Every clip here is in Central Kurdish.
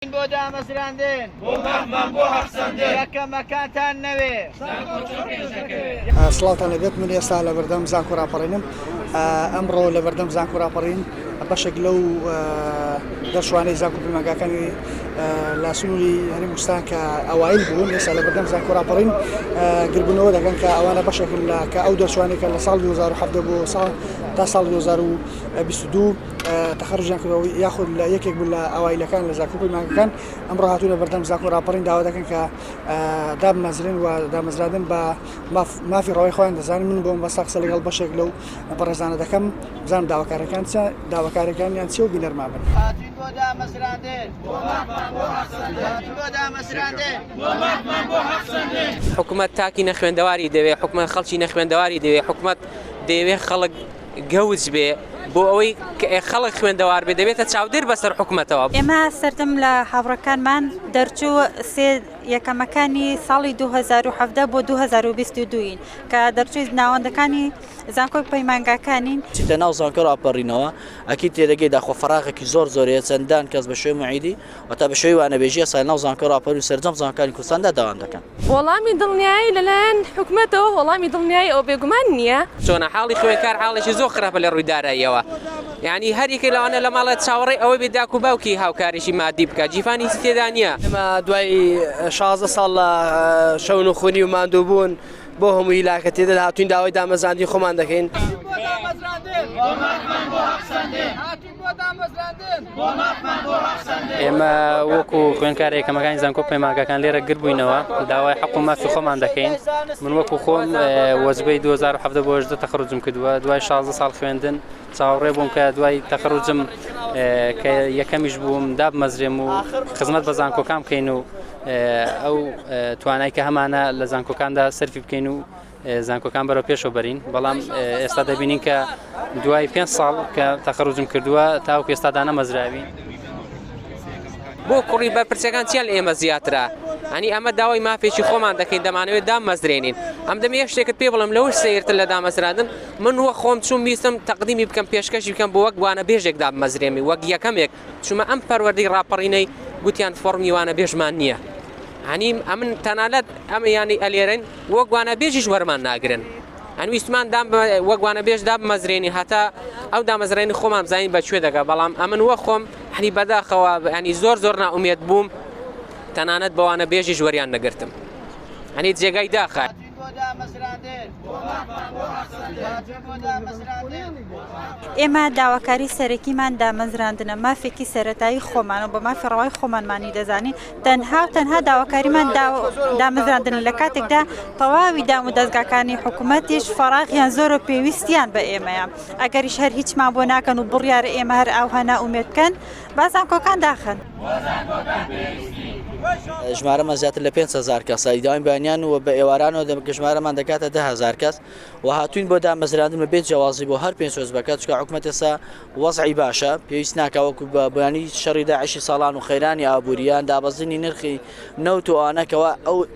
بۆ دامەزراندن. بۆ مافمان بۆ هەق سەندن. کە کەمەکانتان نەوێ. زانکۆ چۆن پێش دەکەوێ. سڵاوتان لەبێت من ئێستا لەبەردەم زانکۆ راپەڕینم ئەمڕۆ لەبەردەم زانکۆ راپەڕین بەشێک لەو دەرچوانەی زانکۆ پەیمانگاکانی لە سنووری هەرێم کوردستان کە ئەوایل بوون ئێستا لەبەردەم زانکۆ راپەڕین گربوونەوە دەکەن کە ئەوانە بەشێکن لە کە ئەو دەرچوانێکە لە ساڵ 2017 بۆ ساڵ تا ساڵ 2022 تەخەڕوجیان کردوە یاخود لە یەکێک بوو لە ئەوایلەکان لە زاکۆ بووی مانگەکان ئەمڕۆ هاتوونە بەردەم زاکۆ راپەڕین داوا دەکەن کە دابمەزرێن و دامەزرابن بە مافی ڕەوای خۆیان دەزانن من بۆم بەسە قسە لەگەڵ بەشێک لەو بەڕێزانە دەکەم بزانم داواکارەکان چە داواکارەکانیان چی و بینەرما بن هاتوین بۆ دامەزراندن بۆ مافمان بۆ حەق سەندن هاتوین بۆ دامەزراندن بۆ مافمان بۆ حەق سەندن حکومەت تاکی نەخوێندەواری دەوێت حکومەت خەڵکی نەخوێندەواری دەوێت حکومەت دەیەوێت خەڵک گەوج بێ بۆ ئەوەی خەڵک خوێندەوار بێ دەبێتە چاودێر بەسەر حکومەتەوە. ئێمە سەرجەم لە هاوڕەکانمان دەرچوو سێ یەکەمەکانی ساڵی 2017 بۆ 2022 ین کە دەرچووی ناوەندەکانی زانکۆی پەیمانگاکانین. چیتە ناو زانکۆ ڕاپەڕینەوە ئەکید تێدەگەی داخۆ فەراغێکی زۆر زۆرەیە چەندان کەس بە شوێ موعیدی. واتە بە شێوەی وانەبێژی یاسای ناو زانکۆی ڕاپەرین و سەرجەم زانکۆکانی کوردستاندا دەوام دەکەن. وەڵامی دڵنیایی لەلایەن حکومەتەوە وەڵامی دڵنیایی ئەوە بێگومان نییە. چۆنە حاڵی خوێندکار حاڵێکی زۆر خراپە لە ڕووی داراییەوە یانی هەر یەکێک لەوانە لە ماڵێ چاوەڕێی ئەوەی بێ داک و باوکی هاوکاریی مادی بکا گیرفان هیچی تێدا نییە. ئێمە دوای شازدە ساڵ لە شەون و خونی و ماندوو بوون بۆ هەمووی لاکە تێدەر هاتووین داوای دامەزراندنی خۆمان دەکەین. ئێمە وەکو خوێنکار یەکەمەکانی زانکۆ پەیماگەکان لێرە گربووینەوە داوای حق و مافی خۆمان دەکەین من وەکو خۆم وەزبەی 2017 بۆ ژدە تەخرجم کردووە دوای 16 ساڵ خوێندن چاوەڕێ بووم کە دوای تەخرجم کە یەکەمیش بووم دابمەزرێم و خزمەت بە زانکۆکان بکەین و ئەو توانای کە هەمانە لە زانکۆکاندا سەرفی بکەین و زانکۆکان بەرەو پێشەوە بەرین بەڵام ئێستا دەبینین کە دوای پێ ساڵ کە تەخەڕوجم کردووە تاوکو ئێستا دانەمەزراوی بۆ کوڕی بە پرسەکان چیان ئێمە زیاترە هەنی ئەمە داوای مافێکی خۆمان دەکەین دەمانەوێت دامەزرێنین ئەم دەم یە شتێکت پێ بڵم لەوش سیرتر لە دامەزرادن من وە خۆم چوم ویستم تەقدیمی بکەم پێشکەشی بکەم بۆ وەک وانە بێژێک دامەزرێنی وەک یەکەمێک چومە ئەم پەروەردەی ڕاپەڕینەی گوتیان فۆڕمی وانە بێژمان نییە هەنیم ئەمن تەنالەت ئەمە یانی ئەلێرن وەک وانە بێژیش وەرمان ناگرن ئەنویستمان دام وەک وانە بێژ داب مەزرێنی هەتا ئەو دامەزرێنی خۆمان زانین بە کوێ دەگە بەڵام ئەمن وە خۆم حنی بەداخەوە ینی زۆر زۆر ناومێت بووم تەنانەت بەوانە بێژیش وەریان نەگرتم هەنی جێگای داخە. ئێمە داواکاری سەرەکیمان دامەزراندنە مافێکی سەتایی خۆمان و بە مافی ڕەوای خۆمانمانی دەزانین تەنها و تەنها داواکاریمان دامەزراندن لە کاتێکدا تەواوی دام و دەستگاکانی حکوومەتیش فەراغیان زۆر و پێویستیان بە ئێمەیە ئەگەریش هەر هیچمان بۆ ناکەن و بڕیار ئێمە هەر ئاوها ناومێت بکەن با زانکۆکان داخەن. ژمارەمان زیاتر لە 5 هزار کەسە ئیداوای بەیانیان و بە ئێوارانەوە دەمکە ژمارەمان دەکاتە ده هزار کەس و هاتوین بۆ دامەزراندن بە بێت جیاوازی بۆ هەر پێنج حزبەکە چکە حکوومەتەسا وەزعی باشە پێویست ناکە وەکو بە بەیانی شەڕی داعشی ساڵان و خەیرانی ئابووریان دابەزینی نرخی نەوت و ئانەکەوە ئەو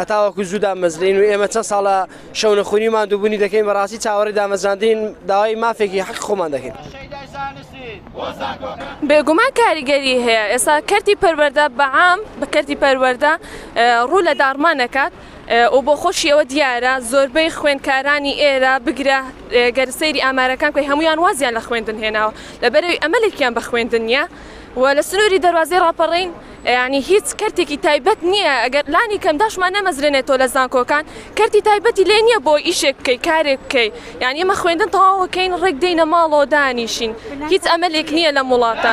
هەتاوەکو زوو دامەزرێین و ئێمە چەند ساڵە شەونەخونی و ماندووبوونی دەکەین بەڕاستی چاوەڕێی دامەزراندین داوای مافێکی حەقی خۆمان دەکەین. بێگومان کاریگەری هەیە ئێستا کەرتی پەروەردە بەعام بە کەرتی پەروەردە ڕوو لە داڕمان دەکات و بۆ خۆشی ئەوە دیارە زۆربەی خوێندکارانی ئێرە بگرە گەر سەیری ئامارەکان بکەی هەموویان وازیان لە خوێندن هێناوە لەبەرئەوەی ئەمەلێکیان بە خوێندن نییە و لە سنووری دەروازەی ڕاپەڕین یانی هیچ کەرتێکی تایبەت نیە ئەگەر لانی کەم داشمان نەمەزرێنێتەوە لە زانکۆکان کەرتی تایبەتی لێ نیە بۆ ئیشێک بکەی کارێک بکەی یانی ئێمە خوێندن تەواوەکەین ڕێک دێینە ماڵەوە دانیشین هیچ ئەمەلێک نیە لەم وڵاتە.